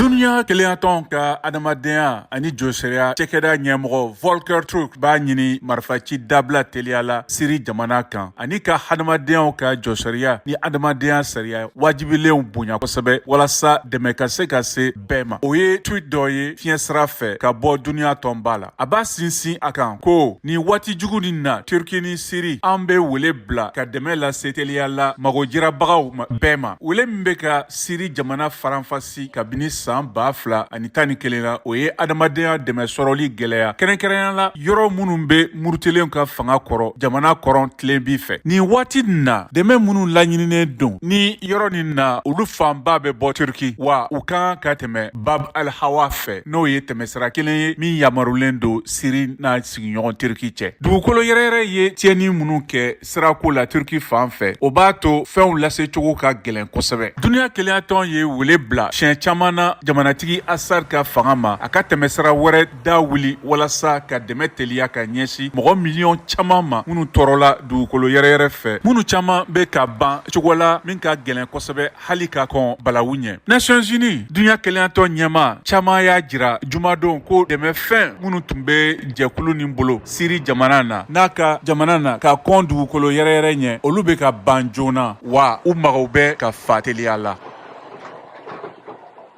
Duniya kelenyatɔn ka adamadenya ani josariya cɛkɛda ɲɛmɔgɔ Volker Turk b'a ɲini marifaci dabila teliya la Siri jamana kan ani ka hadamadenyaw ka josariya ni adamadenya sariya wajibilenw bonya kosɛbɛ walasa dɛmɛ ka se ka se bɛɛ ma. O ye tweet dɔ ye fiɲɛ sira fɛ ka bɔ duniya tɔnba la. a b'a sinsin a kan ko nin waati jugu nin na turki ni siri an bɛ wele bila ka dɛmɛ lase teliya la magojirabagaw bɛɛ ma wele min bɛ ka siri jamana faranfasi kabini san ba fila ani tan ni kelen na o ye adamadenya dɛmɛ sɔrɔli gɛlɛya kɛrɛnkɛrɛnya la yɔrɔ minnu bɛ murutilenw ka fanga kɔrɔ jamana kɔrɔn tilebin fɛ nin waati nin na dɛmɛ minnu laɲininen don ni yɔrɔ nin na olu fanba bɛ bɔ turki wa u kan ka tɛmɛ Bab al Hawa fɛ n'o ye tɛmɛsira kelen ye min yamarulen don Siri n'a sigiɲɔgɔn Turki cɛ. Dugukolo yɛrɛyɛrɛ ye tiɲɛni minnu kɛ sirako la Turki fan fɛ, o b'a to fɛnw lasecogo ka gɛlɛn kosɛbɛ. Duniya kelenyatɔn ye wele bila siɲɛ caman na jamanatigi Assad ka fanga ma a ka tɛmɛsira wɛrɛ da wuli walasa ka dɛmɛ teliya ka ɲɛsin mɔgɔ miliyɔn caman ma minnu tɔɔrɔla dugukolo yɛrɛyɛrɛ fɛ minnu caman bɛ ka ban cogo la min ka gɛlɛn kosɛbɛ hali ka kɔn balawu ɲɛ nations unies dunya kelenyatɔn ɲɛmaa caman y'a jira jumadon ko dɛmɛ fɛn minnu tun bɛ jɛkulu nin bolo siri jamana na n'a ka jamana na ka kɔn dugukolo yɛrɛyɛrɛ ɲɛ olu bɛ ka ban joona wa u mago bɛ ka fa teliya la